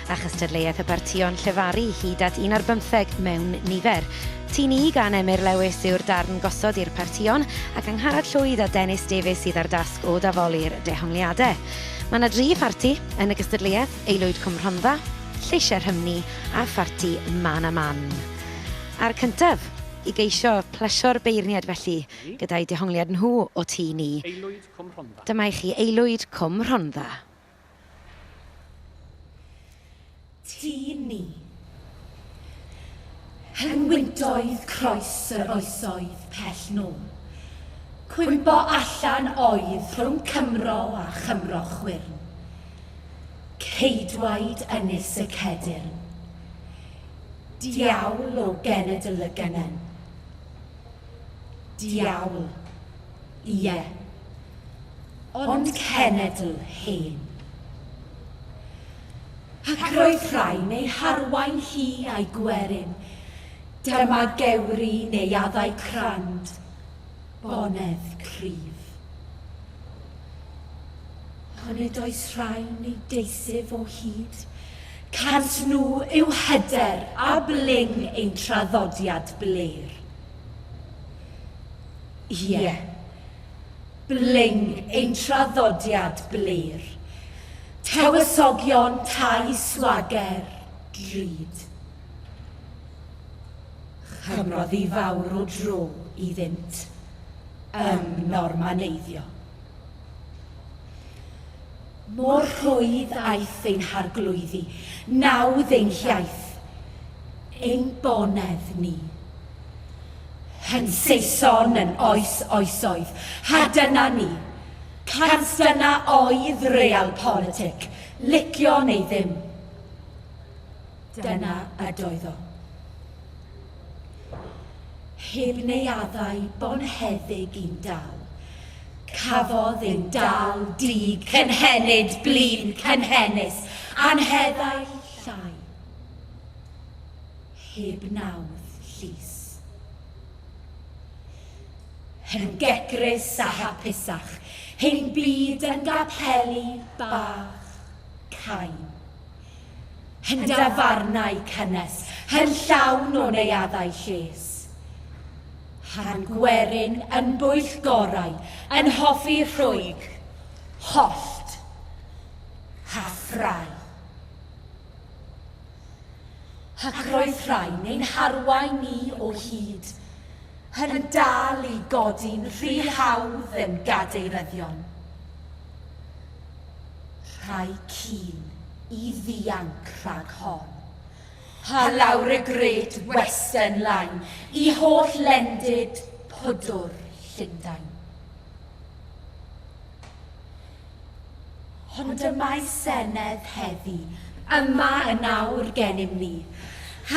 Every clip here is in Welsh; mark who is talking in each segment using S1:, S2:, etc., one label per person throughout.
S1: a chystadleuaeth y partïon llefaru hyd at un ar bymtheg mewn nifer. Tîn I gan Emyr Lewis yw'r darn gosod i'r partïon ac Angharad Llwyd a Dennis Davies sydd â'r dasg o dafoli'r dehongliadau. Mae yna dri pharti yn y gystadleuaeth, Aelwyd Cwm Rhondda, Lleisiau Rhymni a pharti Man a Man. A'r cyntaf i geisio plesio'r beirniad felly, gyda'i dehongliad nhw o Tîn I, Cwm Rhondda.
S2: Dyma i chi aelwyd
S1: Cwm Rhondda.
S3: Tîm ni. Hen wyntoedd croes yr oesoedd pell nôl. Cwympo allan oedd rhwng Cymro a Chymro chwyrn. Ceidwaid Ynys y Cedyrn. Diawl o genedl y Gynnen. Diawl. Ie. Ond cenedl hen. Ac roedd rhai'n ei harwain hi a'i gwerin, dyma gewri neuaddau crand, bonedd cryf. Onid oes rhai'n ei deisif o hyd? Cant nhw yw hyder a bling ein traddodiad blêr. Ie. Bling ein traddodiad blur. Tywysogion tai swager, drud. Chymrodd hi fawr o dro iddynt ymnormaneiddio. Mor rhwydd aeth ein harglwyddi, nawdd ein hiaith, ein bonedd ni. Yn Saeson yn oes oesoedd, ha dyna ni. Cant dyna oedd real politic, licio neu ddim. Dyna ydoedd o. Heb neuaddau bonheddig i'n dal, cafodd ein dal dug cynhenid blin cynhenus, anheddau llai. Heb nawdd llys. Yn gegrus a hapusach, ein byd yn gapeli bach, cain. Hen dafarnau cynnes, hen llawn o neuaddau lles. Harn gwerin yn bwyllgorau, yn hoffi rhwyg. Hollt. Ha ffrae. Ac roedd rhai'n ein harwain ni o hyd, yn dal i godi'n rhy hawdd yn gadeiryddion. Rhai keen i ddianc rhag hon. Pa lawr y Great Western Line i holl lendid pwdwr Llundain. Ond y mae senedd heddi yma yn awr gennym ni,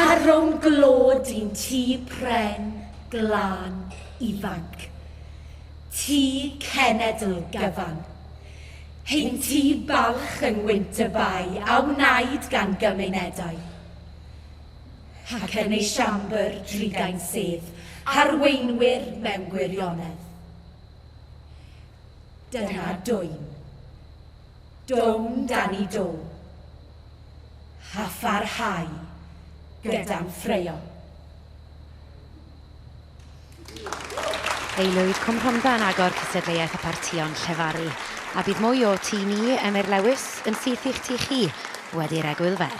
S3: ar rownd glod i'n tŷ pren, glân, ifanc. Tŷ cenedl gyfan. Heinti balch yn wynt y bai a wnaed gan gymunedau. Ac yn ei siambr drugain sedd harweinwyr mewn gwirionedd. Dyna dwyn. Dwm dan i do. A pharhau gyda'n ffraeo.
S1: Aelwyd Cwm Rhondda yn agor cystadleuaeth y partïon llefaru, a bydd mwy o Ti Ni, Emyr Lewis, yn syth i'ch ti chi wedi'r egwyl fer.